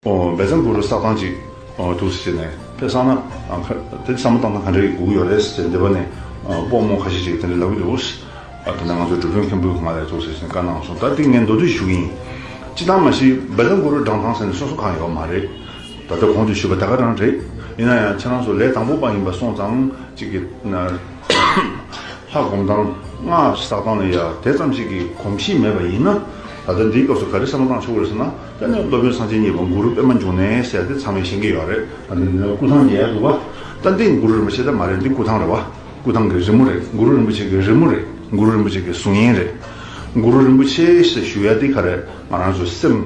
འབད་བརྩོན་དགུ་རུ་ས་ཐང་ཅིག་ཐུགས་སུ་བྱས་ནས་ཕེབས་བསམ་ན། དེ་བསམ་བློ་བཏང་ན་ག་འདྲ་ཡི་སྒུག་གི་ཡོད་རེད་ཟེར་འདི་བ་ནས་དཔོག་མོ་ཁ་ཤས་ཤིག་དེ་འདྲ་ལབ་གི་འདུག་དེ་ནས་ང་ཚོའི་སྒྲུབ་གཞོན་མཁན་པོས་ང་ལས་ཐུགས་སུ་བྱས་ནས་བཀའ་གནང་སོང་ད་འདི་ངས་མདོ་སྡུད་ཞུ་གི་ཡིན། ཅི་ལྟར་མ་གཞི་འབད་བརྩོན་དགུ་རུ་བགྲང་ཐང་ཟེར་ནས་སོ་སོ་གང་ཡོད་པ་མ་རེད། ད་ལྟ་གོང་དུ་ཞུས་པ་ད་ག་རང་རེད། ཡིན་ན་ཡང་ཁྱེད་རང་ཚོ་ལས་དང་པོ་པ་ཡིན་པ་སོང་ཙང་ཅིག་གི། ལྷ་སྒོམ་ཐང་སྔགས་ཀྱི་ས་ཐང་ལ་ཡང་དེ་ཙམ་ཞིག་གི་གོམས་གཤིས་མེད་པ་ཡིན་ན། ད་ལྟ་འདིའི་སྐབས་སུ་ག་རེ་བསམ་བློ་བཏང་ཆོག་གི་རེད་ཟེར་ན། དེ་ནས་སློབ་དཔོན་གསང་ཆེན་གཉིས་པ་གུ་རུ་པདྨ་འབྱུང་གནས་ཟེར་ཏེ་ཚང་མས་ཤེས་ཀྱི་ཡོད་རེད། སྐུ་ཐང་ཡལ་འདུག་བ། ཏན་ཏན་གུ་རུ་རིན་པོ་ཆེ་ད་མ་རེད་འདི་སྐུ་ཐང་རེད་བ། སྐུ་ཐང་གི་རི་མོ་རེད་གུ་རུ་རིན་པོ་ཆེ་གི་རི་མོ་རེད་གུ་རུ་རིན་པོ་ཆེ་གི་གཟུགས་བརྙན་རེད། གུ་རུ་རིན་པོ་ཆེ་ཞེས་ཞུ་ཡ་འདི་ག་རེད་ང་རང་ཚོའི་སེམས།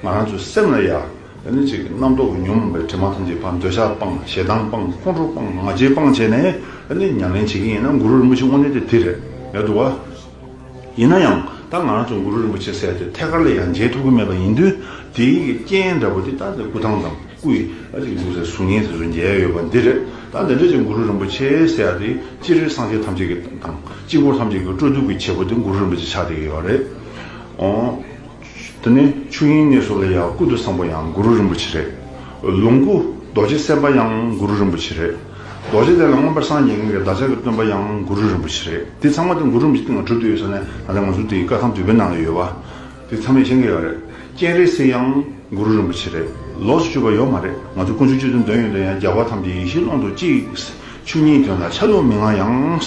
ང་རང་ཚོའི་སེམས་ལ་ཡ། དེ་ནི་ཅིག་རྣམ་རྟོག་གི་ཉོན་མོངས་པའི་དྲི་མ་ཐམས་ཅད་སྤངས་འདོད་ཆགས་སྤངས་ཞེ་སྡང་སྤངས་ཁོང་ཁྲོ་སྤངས་ང་རྒྱལ་སྤངས་བྱས་ནས་དེ་ནི་ཉམས་ལེན་བྱེད་ཀྱི་ཡིན་ན་གུ་རུ་རིན་པོ་ཆེ་དངོས་གནས་དེ་དེ་རེད་འདུག་བ། ཡིན་ན་ཡང་ད་ང་རང་ཚོ་གུ་རུ་རིན་པོ་ཆེ་སྲས་དེ་ཐད་ཀར་ལ་ཡང་མཇལ་ཐུབ་ཀྱི་མེད་པ་ཡིན་དུས་དེའི་རྐྱེན་འདྲ་པོ་དེ་ད་ནི་སྐུ་ཐང་དང་སྐུ་ཡི་ཨ་ཅིག་འཛིན་སའི་གཟུགས་བརྙན་དེ་ཚོ་མཇལ་ཡོད་པ་འདི་རེད་ད་འདི་འདྲ་ཅིག་གུ་རུ་རིན་པོ་ཆེ་སྲས་དེ་ཅི་རིགས་སངས་རྒྱས་ཐམས་ཅད་ཀྱི་དང་དཀྱིལ་འཁོར་ཐམས་ཅད་ཀྱི་སྤྲོ་བསྡུ་གྱི་བྱེད་པོ་དེ་གུ་རུ་རིན་པོ་ཆེ་ཕྱག་འདེབས་ཀྱི་ཡོད་རེད། དེ་ནས་ཆོས་དབྱིངས་གནས་སོ་ལ་ཡང་ཀུན་ཏུ་བཟང་པོ་ཡང་གུ་རུ་རིན་པོ་ཆེ་རེད། ལོངས་སྐུ་རྡོ་རྗེ་སེམས་དཔའ་ཡང་གུ་རུ་རིན་པོ་ཆེ་རེད། རྡོ་རྗེ་གདན་ལ་མངོན་པར་སངས་རྒྱས་གཉིས་ཀྱི་བདག་ཅག་གི་སྟོན་པ་ཡང་གུ་རུ་རིན་པོ་ཆེ་རེད། དེ་ཚང་མ་དེ་གུ་རུ་རིན་པོ་ཆེ་སྟེང་ལ་གྲུབ་ཏུ་ཡོད་ས་ནས་ད་ལྟ་ང་ཚོ་འདིའི་བཀའ་ཁང་དུད་པའི་ནང་ལ་ཡོད་པ། དེ་ཚང་མས་མཁྱེན་གི་ཡོད་རེད། སྤྱན་རས་གཟིགས་ཡང་གུ་རུ་རིན་པོ་ཆེ་རེད། ལོགས་སུ་གཅོད་པ་ཡོད་མ་རེད། ང་ཚོ་དཀོན་མཆོག་སྤྱི་དོན་དོན་ཡོད་དོན་ཡང་རྒྱལ་བ་ཐམས་ཅད་ཡེ་ཤེས་ཀློང་དུ་གཅིག། ཆོས་ཉིད་དོན་ལ་ཆ་ལུགས་མི་མངའ་ཡང།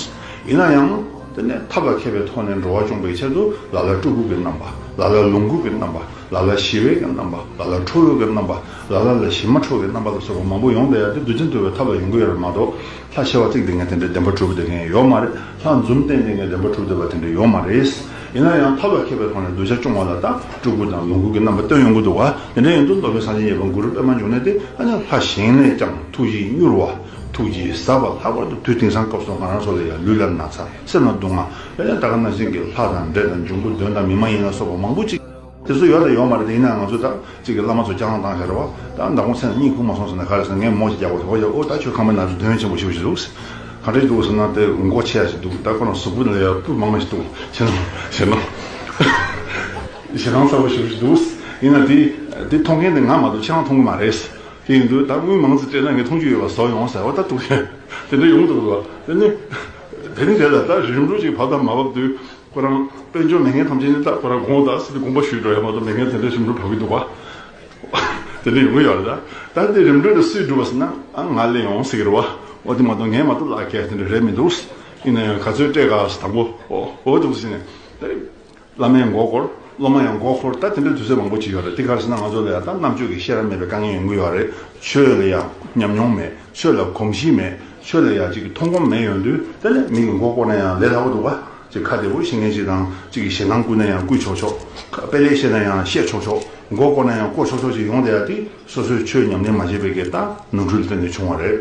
ཡིན་ན་ཡང། དེ་ནས་ཐབས་ལ་མཁས་པའི་ཐོག་ནས་འགྲོ་བ་སྐྱོང་བའི་ཆེད་དུ་ལ་ལ་སྤྲུལ་སྐུ་གི་རྣམ་པ། ལ་ལ་ལོངས་སྐུ་གི་རྣམ་པ། ལ་ལ་ཞི་བའི་གི་རྣམ་པ། ལ་ལ་ཁྲོ་བོའི་གི་རྣམ་པ། ལ་ལ་ལ་ཞི་མ་ཁྲོ་བའི་རྣམ་པ་ལ་སོགས་པ་མང་པོ་ཡོངས་བཟླས་ཡར་ཏེ་བདུད་རྩི་འདུལ་བའི་ཐབས་ལ་ཡོངས་སྐུ་ཡོད་པ་མ་གཏོགས་ལྷ་བྱེ་བ་གཅིག་དེ་ངས་དེ་འདྲའི་བདེན་པ་གྲུབ་བསྡད་མཁན་ཡོད་མ་རེད་ལྷ་འཛུམ་བསྟན་དེ་ངས་བདེན་པ་གྲུབ་བསྡད་པ་དེ་འདྲ་ཡོད་མ་རེད། ཡིན་ན་ཡང་ཐབས་ལ་མཁས་པའི་ཐོག་ནས་གདུལ་བྱ་སྐྱོང་བ་ལ་ད་སྤྲུལ་སྐུ་དང་ལོངས་སྐུ་གི་རྣམ་པ་སྟོན་ཡོང་གི་འདུག་ག་དེ་འདྲ་ཡིན་དུས་མདོ་སྨད་གསང་ཆེན་ཡེ་བ་གུ་རུ་པདྨ་འབྱུང་གནས་དེ་ཨ་ནི་ལྷ་གཞན་ལས་ཀྱང་ཐུགས་རྗེ་མྱུར་བ། ཐུགས་ཀྱི་བཟའ་བ་ལྷག་པར་དུ་དུས་དེང་སང་སྐབས་སུ་ང་རང་ཚོ་ལ་ཡང་ལུས་ལ་ན་ཚ་སེམས་ལ་སྡུག་བསྔལ་ཡང་དག་གི་ན་ཟིན་གྱི་ལྷ་དང་འདྲེ་དང་འབྱུང་པོ་གདོན་དང་མི་མ་ཡིན་ལ་སོགས་པ་མང་པོ་ཅིག་དེ་ཚོ་ཡོད་དང་ཡོད་མ་རེད་དེ་ཡིན་ན་ང་ཚོའི་དག་ཅིག་གི་བླ་མ་ཚོ་སྐྱག་ལང་དང་ཞར་བ་དང་མདང་དགོང་ཚེ་ན་གཉིད་ཁུག་མ་སོང་ཟེར་ན་ག་རེ་ཟེར་ངས་མོ་ཞིག་རྒྱག་པར་དོགས་པ་ཡོད་ཨོ་ད་ཁྱོད་ཁང་པའི་ནང་དུ་དོན་ཆེན་པོ་ཞིག་འོང་བཞིན་འདུག་ག་འདྲ་ཞིག་འདུག་ཟེར་ན་དེ་མགོ་ཆེ་ཡ་ཞིག་འདུག་ད་ཁོ་རང་གཟུགས་པོ་ལས་ཡར་སྤུ་མང་མ་ཞིག་འདུག་ཞེ་སྡང་ཞེ་སྡང་ཞེ་སྡང་ཚ་བོ་ཞིག་འདུག་ཡིན་ན་དེ་མཐོང་མཁན་དེ་ང་མ་གཏོགས་ཁྱེད་རང་མཐོང་གི་མ་རེད། དེ་འདུག་ད་དངུལ་མང་ཙིག་སྤྲད་ན་ངས་མཐོང་རྒྱུ་ཡོད་པ་བཟོ་ཡོང་ཟེར་བ་ལྟར་འདུག་ཤེས། དེ་འདྲ་ཡོང་དུ་འགྲོ། དེ་ནི། དེ་ནི་དེ་ལ་ད་རིམ་གྲོ་ཅིག་བབ་དང་མ་བབ་དུས། ཁོ་རང་དཔལ་འབྱོར་མི་ངན་ཐམས་ཅད་ནི་ད་ཁོ་རང་དགོངས་དག་སེ་སྟེ་དགོངས་པ་ཞུས་འགྲོ་ཡ་མ་གཏོགས་མི་ངན་དེ་འདྲ་རིམ་གྲོ་བབ་ཀྱི་འདུག་བ། དེ་འདྲ་ཡོང་གི་ཡོད་རེད་ད། ད་དེ་རིམ་གྲོ་འདྲ་སུས་སྒྲུབ་པ་ཟེར་ན་ཨང་ང་ལས་ཡོང་ཟེར་གི་རེད་བ། འོ་དེ་མ་གཏོགས་ངས་མ་གཏོགས་བརླག་སྐད་དེ་འདྲ་རེད་མི་འདུག། ཡིན་ན་ཡང་ག་ཚོད་སྤྲད་ག་ཟེར་དང་པོ་འོ་འོ་འདུག་ཟེར་ནས། བླ་མའི་མགོ་སྐོར། སློབ་མ་ཡང་མགོ་སྐོར་ལྟ་དེ་འདྲའི་དུས་ཚོད་མང་པོ་བྱས་ཡོད་རེད་དེ་གར་ཟིན་ན་ང་ཚོ་ལ་ཡང་དག་རྣམ་དཔྱོད་ཀྱི་ཤེས་རབ་མེད་པའི་དཀའ་ངལ་ཡང་འགུལ་ཡོད་རེད། ཆོས་ལ་ཡང་ཉམས་མྱོང་མེད། ཆོས་ལ་གོམས་གཤིས་མེད། ཆོས་ལ་ཡང་ཅིག་གི་མཐོང་སྒོམ་མེད་ཡོང་དུས་དེ་ལས་མིང་གི་མགོ་སྐོར་ན་ཡང་ལས་སླ་བོ་འདུག་ག། ཅིག་ཁ་བདེ་བོ་ཤེས་མཁན་ཞིག་དང་ཅིག་གིས་ཞེ་སྡང་བསྐུལ་ན་ཡང་བསྐུལ་ཆོག་ཆོག། དཔེ་ལེགས་བཤད་ན་ཡང་བཤད་ཆོག་ཆོག། མགོ་སྐོར་ན་ཡང་སྐོར་ཆོག་ཆོག་ཅིག་ཡོང་བསྡད་ཡ་དེ་སོ་སོའི་ཆོས་ཉམས་ལེན་མ་བྱས་པའི་སྐད་དང་ནོར་འཁྲུལ་སྟེང་ནས་བྱུང་བ་རེད།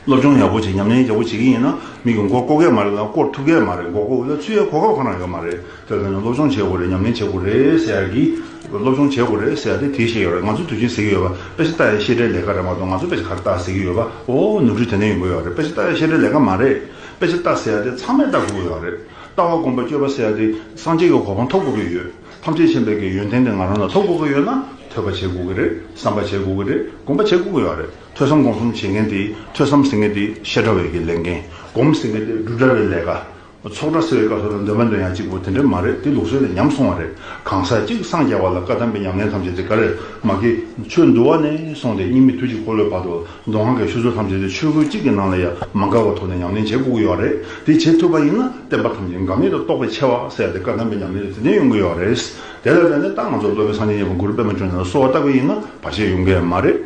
སློབ་སྦྱོང་ཡག་པོ་བྱེད་ཉམས་ལེན་ཡག་པོ་བྱེད་ཀྱི་ཡིན་ན་མི་གི་མགོ་བསྐོར་གས་མ་རེད་དང་བསྐོར་ཐུབ་གས་མ་རེད་མགོ་བསྐོར་ལ་ཚུད་ཡའི་གོ་སྐབས་གང་ན་ཡོད་མ་རེད་དེར་ཐོན་ནས་སློབ་སྦྱོང་བྱེད་དགོས་རེད་ཉམས་ལེན་བྱེད་དགོས་རེད་ཟེར་ཡ་གི། སློབ་སྦྱོང་བྱེད་དགོས་རེད་ཟེར་ཡ་དེ་དེའི་ཤེས་ཡོད་རེད་ང་ཚོ་དུས་ཆེན་ཟེར་གྱི་ཡོད་པ་དཔེ་ཆ་བལྟ་ཡའི་ཤེས་བྲལ་ལས་ཀ་རེད་མ་གཏོགས་ང་ཚོ་དཔེ་ཆ་ག་རེ་བལྟ་ཟེར་གྱི་ཡོད་པ་འོ་ནུབ་འཁྲུལ་དེ་འདྲ་ཡིན་དགོས་ཡོད་རེད་དཔེ་ཆ་བལྟ་ཡའི་ཤེས་བྲལ་ལས་ཀ་མ་རེད་དཔེ་ཆ་བལྟ་ཟེར་ཡ་དེ་ཚང་མས་བལྟ་དགོས་གི་ཡོད་རེད་ལྟ་བ་དགོངས་པ་སྐྱོ་བ་ཟེར་ཡ་དེ་སངས་རྒྱས་ཀྱི་གོ་འཕང་ཐོབ་དགོས་གི་ཡོད་ཐམས་ཅད་མཁྱེན་པའི་གི་ཡོན་ཏན་དེ་ང་རང་ལ་ཐོབ་དགོས་གི་ཡོད་ན་ཐོས་པ་བྱེད་དགོས་གི་རེད་བསམ་པ་བྱེད་དགོས་གི་རེད་དགོངས་པ་བྱེད་དགོས་གི་ཡོད་རེད། ཐོས་བསམ་སྒོམ་གསུམ་བྱེད་མཁན་དེ་ཐོས་བསམ་ཟེར་མཁན་དེ་བཤད་གྲྭ་བའི་གི་ལས་འགན། སྒོམ་ཟེར་མཁན་དེ་སྒྲུབ་གྲྭ་བའི་ལས་ཀ། ཚོགས་གྲྭ་ཟེར་བའི་སྐབས་སུ་ལ་འདོན་མ་འདོན་ཡང་གཅིག་པོ་དེ་འདྲ་མ་རེད་དེ་ལུགས་སྲོལ་ལས་ཉམས་སོང་བ་རེད་གང་ཟག་གཅིག་སངས་རྒྱ་བ་ལ་བཀའ་གདམས་པའི་ཉམས་ལེན་ཐམས་ཅད་དེ་ག་རེར་མ་སྐྱེས། ཆོས་འདུལ་བ་ནས་སོང་སྟེ་སྙིགས་མི་དུས་གཅིག་འཁོར་ལོའི་བར་དུ་མདོ་སྔགས་ཀྱི་ཤུལ་སྲོལ་ཐམས་ཅད་དེ་ཆོས་སྐུ་གཅིག་གི་ནང་ལ་ཡང་མ་འགག་པ་ཐོག་ནས་ཉམས་ལེན་བྱེད་དགོས་ཀྱི་ཡོད་རེད་དེ་བྱེད་ཐུབ་པ་ཡིན་ན་བསྟན་པ་ཐམས་ཅད་འགག་མེད་དུ་རྟོགས་པའི་ཆེ་བ་གསལ་ཏེ་བཀའ་གདམས་པའི་ཉམས་ལེན་དེ་དེ་འདྲ་ཡོང་གི་ཡོད་རེད། དེ་ལ་བརྟེན་ནས་ཏང་ང་ཚོ་སློབ་དཔོན་སངས་རྒྱས་གཉན་པོ་མགུར་པད་མ་ཅོ་ནེ་ལ་གསོལ་བ་བཏབ་པ་ཡིན་ན་བར་ཆད་ཡོང་གི་མ་རེད།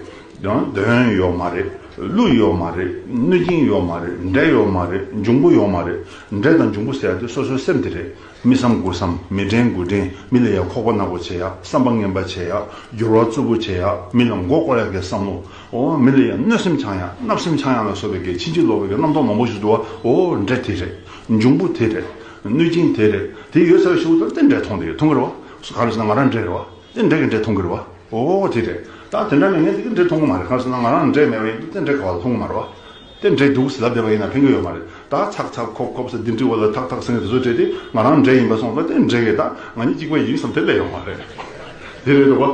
ཡང་གདོན་ཡོད་མ་རེད་ཀླུ་ཡོད་མ་རེད་གནོད་སྦྱིན་ཡོད་མ་རེད་འདྲེ་ཡོད་མ་རེད་འབྱུང་པོ་ཡོད་མ་རེད་འདྲེ་དང་འབྱུང་པོ་ཟེར་དེ་སོ་སོའི་སེམས་དེ་རེད་མི་བསམ་དགུ་བསམ་མི་དྲན་དགུ་དྲན་མི་ལ་ཡ་ཁོག་པ་ནག་པོ་བྱེད་ཡ་བསམ་པ་ངན་པ་བྱེད་ཡ་འགྱུར་བ་རྩུབ་པོ་བྱེད་ཡ་མི་ལ་མགོ་བསྐོར་ཡ་གས་བསམ་བློ་འོ་མི་ལ་ཡ་གནོད་སེམས་འཆང་ཡ་བརྣབ་སེམས་འཆང་ཡ་ལ་སོགས་པའི་གས་ཕྱིན་ཅི་ལོག་པའི་གས་རྣམ་རྟོག་མང་པོ་ཞིག་འདུག་བ་འོ་འདྲེ་དེ་རེད་འབྱུང་པོ་དེ་རེད་གནོད་སྦྱིན་དེ་རེད་དེ་ཡོད་ཚད་ལ་ཞུགས་ཐུབ་ན་དེ་འདྲེ་མཐོང་དེ་ཡོད་ཐུང་གི་རེད་བ་ག་རེ་བྱས་ན་ང་རང་འདྲེ་རེད་བ། རྩེད་འགྲན་གྱི་འབྲས་མཐོང་གི་རེད་བ། འོ་འོ་དེ་རེད། ད་དེ་འདྲ་ནས་ངས་འདི་གི་འབྲས་མཐོང་གི་མ་རེད་གང་ཟེར་ན་ང་རང་ལ་འབྲས་མེད་པ་ཡིན་དུས་རྩེད་འགྲན་ག་བ་ལ་མཐོང་གི་མ་རེད་བ། རྩེད་འགྲན་འདུག་ཟེར་ལབ་བསྡད་པ་ཡིན་ན་ཕན་གི་ཡོད་མ་རེད་ད། ཚག་ཚག་ཁོག་ཁོག་བསད་འདི་འདྲི་བ་ལ་ཐག་ཐག་སེང་གེ་དེ་ཚོ་བྲེད་དེ་ང་རང་འབྲས་ཡིན་པ་སོང་ལ་རྩེད་འགྲན་གྱི་ད་ང་གཉིས་གཅིག་པ་ཡིན་བསམ་དེ་ལས་ཡོང་མ་རེད། དེ་རེད་བ། འོ་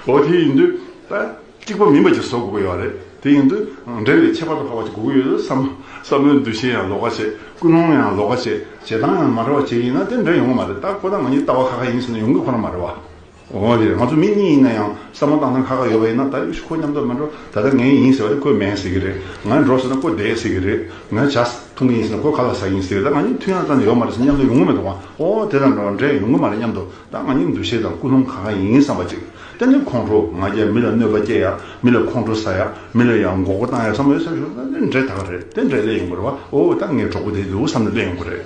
འོ་དེ་ཡིན་དུས་ད། གཅིག་པ་མིན་པ་ཅིག་བཟོ་དགོས་ཀྱི་ཡོད་རེད། དེ་ཡིན་དུས་འབྲེལ་བའི་ཁྱད་པར་དུ་འཕགས་པ་ཅིག་དགོས་ཀྱི་ཡོད་དུས་སམ། བསམ་བློའི་འདུ་ཤེས་ཡང་ལོགས་ཀ་བྱེད། ཀུན་སློང་ཡང་ལོགས་ཀ་བྱེད། བྱེད་སྟངས་ཡང་མ་རེད་བ་བྱེད་ཡིན་ན་དེ་འབྲེལ་ཡོང་གི་མ་རེད་ད་ཁོ་ད་ང་གཉིས་ལྟ་བ་ཁ་ཁ་ཡིན་ཟེར་ན་ཡོང་གི་ཁོ་ན་མ་རེད་བ། འོ་ཡེ་རེད་ང་ཚོ་མི་གཉིས་ཡིན་ན་ཡང་བསམ་བློ་བཏང་སྟངས་ཁ་ཁ་ཡོད་པ་ཡིན་ན་ད་ཡོད་ཤི་ཁོ་མཉམ་དུ་མ་འགྲོ་ད་ལྟ་ངས་ཡིན་ཟེར་བ་དེ་ཁོས་མེད་ཟེར་གྱི་རེད་ང་འགྲོ་ཟེར་ན་ཁོ་བསྡད་ཟེར་གྱི་རེད་ངས་བྱ་ཐུང་གི་ཡིན་ཟེར་ན་ཁོས་ག་ལ་ཟ་གི་ཡིན་ཟེར་གྱི་རེད་ད་ང་གཉིས་མཐུན་ཡང་ཙམ་ཡོད་མ་རེད་ཟེར་ན་མཉམ་དུ་ཡོང་གི་མེད་འགྲོ་བ་འོ་དེ་དང་འགྲོ་བ་འབྲེལ་ཡོང་གི་མ་རེད་མཉམ་དུ་ད་ང་ནི་འདུ་ཤེས་དང་ཀུན་སློང་ག་ག་ཡིན་བསམ་པ་ཅིག་ད་ནི་ཁོང་ཁྲོ་ང་རྒྱལ་མི་ལ་གནོད་པ་སྐྱེལ་ཡག་མི་ལ་ཁོང་ཁྲོ་ཟ་ཡག་མི་ལ་ཡང་འགོག་པ་བཏང་ཡག་བསམ་བློའི་སེམས་ཤུགས་ད་འདྲེ་དག་རེད་དེ་འདྲས་སླེབས་ཡོང་དགོས་རེད་བ་འོ་ད་ངའི་གྲོགས་པོ་དེ་འདུག་བསམ་ནས་སླེབས་ཡོང་དགོས་རེད།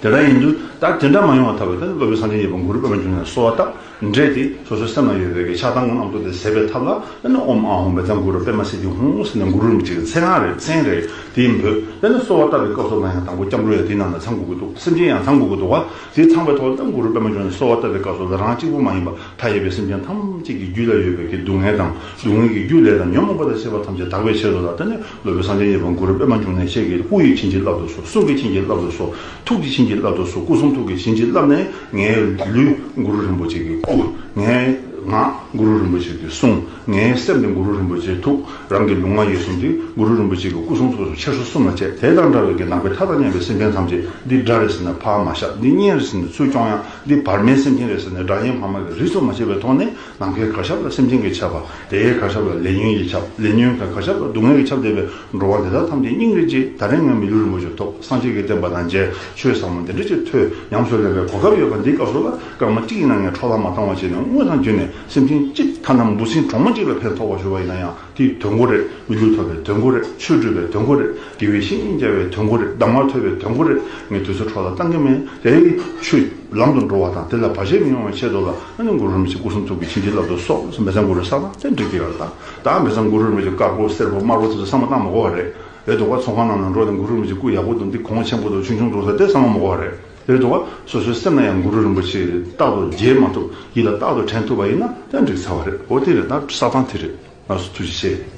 དེ་འདྲ་ཡིན་དུས་ད་དེ་འདྲ་མ་ཡོང་བ་ཐབས་ད་ནི་སློབ་དཔོན་སངས་རྒྱས་ཡེ་པོ་གུ་རུ་པདྨ་འབྱུང་གནས་གསོལ་བ་བཏབ་འདྲས་དེ་སོ་སོའི་སེམས་ན་ཡོད་པའི་གི་ཕྱག་དང་ངོ་གནག་ཏུ་དེ་ཟད་པའི་ཐབས་ལ་ད་ནི་ཨོམ་ཨ་ཧོམ་བས་ད་གུ་རུ་པདྨ་སེ་ཏི་ཧོང་ཟེར་ནས་གུ་རུ་རིན་པོ་ཆེ་གི་མཚན་ཁང་རེད་མཚན་རེད་དེ་འབོད་ད་ནི་གསོལ་བ་བཏབ་པའི་སྐབས་སུ་ང་ཡང་དང་པོ་སྐྱབས་འགྲོ་ཡང་དེ་རྣམས་ལ་ཚང་དགོས་ཀྱི་འདུག་སེམས་ཅན་ཡང་ཚང་དགོས་ཀྱི་འདུག་བ་དེ་ཚངས་པའི་ཐོག་རྣམས་གུ་རུ་པདྨ་འབྱུང་གནས་གསོལ་བ་བཏབ་པའི་སྐབས་སུ་རང་གཅིག་པུ་མ་ཡིན་པར་མཐའ་ཡས་པའི་སེམས་ཅན་ཐམས་ཅད་ཀྱི་རྒྱུད་ལ་ཡོད་པའི་གི་སྡུག་བསྔལ་དང་སྡུག་བསྔལ་གྱི་རྒྱུ་ལས་དང་ཉོན་མོངས་པ་དང་བཅས་པ་ཐམས་ཅད་དག་པའི་ཕྱིར་རོ་ལ་བརྟེན་ནས་སློབ་དཔོན་སངས་རྒྱས་གཉིས་པོ་གུ་རུ་པདྨ་འབྱུང་གནས་ཁྱེད་ཀྱིས་སྐུ་ཡི་བྱིན་གྱིས་བརླབས་ཏུ་གསོལ་གསུང་གི་བྱིན་གྱིས་བརླབས་ཏུ་གསོལ་ཐུགས་ཀྱི་བྱིན་གྱིས་བརླབས་ཏུ་གསོལ་སྐུ་གསུང་ཐུགས་ཀྱི་བྱིན་གྱིས་བརླབས་ནས་ངའི་ལུས་གུ་རུ་རིན་པོ་ཆེ་གི་སྐུ། ངའི་ངག་གུ་རུ་རིན་པོ་ཆེ་གི་གསུང། ངའི་སེམས་ནི་གུ་རུ་རིན་པོ་ཆེའི་ཐུགས་རང་གི་ལུས་ངག་ཡིད་གསུམ་གྱིས་གུ་རུ་རིན་པོ་ཆེ་གི་སྐུ་གསུང་ཐུགས་སུ་ཆེ་ཧྲུལ་གསུམ་ལ་བཅས་དེ་དང་འདྲ་བའི་གྱི་ནང་པའི་མཐའ་དང་མཉམ་པའི་སེམས་ཅན་ཐམས་ཅད་འདི་དགྲ་རེད་ཟེར་ནས་ཕ་མ་ཤ་འདི་གཉན་རེད་ཟེར་ནས་ཚུར་སྐྱོང་ཡང་འདི་བར་མའི་སེམས་ཅན་རེད་ཟེར་ནས་དགྲ་གཉེན་ཕ་མ་གི་རིས་སུ་མ་ཆད་པའི་ཐོག་ནས་ནམ་མཁའི་གར་ཞབས་ལ་སེམས་ཅན་གྱི་ཆབ་པ་དེའི་གར་ཞབས་ལ་ལས་ཉོན་གྱི་ཆབ་ལས་ཉོན་གྱི་གར་ཞབས་ལ་སྡུག་བསྔལ་གྱི་ཆབ་འདེབས་པའི་འགྲོ་བ་འདི་དག་ཐམས་ཅད་སྙིང་རེ་རྗེ་ད་རེས་ངའི་མི་ལུས་རིན་པོ་ཆེ་ཐོག་སངས་རྒྱས་ཀྱི་བསྟན་པ་དང་མཇལ་ཆོས་ཟབ་མོ་འདི་འདྲ་ཅིག་ཐོས་ཉམས་སུ་ལེན་པའི་གོ་སྐབས་ཡོད་པ་འདི་སྐབས་སུ་ལ་སྐར་མ་གཅིག་ཡིན་ན་ངས་འཕྲོག་ལ་མ་བཏང་བ་བྱས་ནས་དངུལ་དང་བརྒྱུད་ནས་སེམས་ཅན་གཅིག་མཐའ་རྣམས་འབུ་སྲིན་གྲོག་མ་གཅིག་ལ་ཕན་ཐོགས་པར་ཞུ་བ་ཡིན་ན་ཡང་དེའི་དོན་གོ་རེ། མི་ལུས་ཐོབ་པའི་དོན་གོ་རེ། ཆོས་སྒྲུབ་པའི་དོན་གོ་རེ། དགེ་བའི་བཤེས་གཉེན་བསྐྱལ་བའི་དོན་གོ་རེ། གདམས་ངག་ཐོས་པའི་དོན་གོ་རེ། ངས་དུས་ཚོད་འཕྲོག་ལ་བཏང་གི་མེད་རེད། ཆུ། ལམ་དུ་འགྲོ་བ་དང་དེ་ལ་བར་ཆད་མི་ཡོང་བའི་ཆེད་དུ་ལ་ཨ་ནི་འགུ་རུ་རུ་མི་ཆི་སྐུ་གསུང་ཐུགས་ཀྱི་བྱིན་གྱིས་བརླབས་ཏུ་སོགས་མེ་བཟང་འགུ་རུའི་ས་དང་ལྷན་ཅིག་ཏེ་ཡོད་ལ། ད་མེ་བཟང་འགུ་རུ་རུ་མི་ཆི་དཀར་པོ་སེར་པོ་དམར་པོ་དེ་ཚོ་ས་མ་བཏང་མ་གོ་བ་རེད། འདུག་ག་ཚོང་ཁང་རྣམས་ལ་འགྲོ་ནས་འགུ་རུ་རུ་མི་ཆི་སྐུ་ཡག་པོ་དང་འདི་གོང་ཆེན་པོ་དང་ཆུང་ཆུང་འགྲོ་ས་དེ་ས་མ་མ་གོ་བ་རེད། དེ་རེད་དོ། སོ་སོའི་སེམས་ལ་ཡང་གུ་རུ་རིན་པོ་ཆེ་རྟག་ཏུ་མཇལ་མ་ཐུབ་ཡིད་ལ་རྟག་ཏུ་དྲན་ཐུབ་པ་ཡིན་ན་ཡང་འགྲིག་ཚར་བ་རེད་འོ་དེ་རེད་ད་བསགས་སྟངས་དེ་རེད་ལགས་སོ་ཐུགས་རྗེ་ཆེ།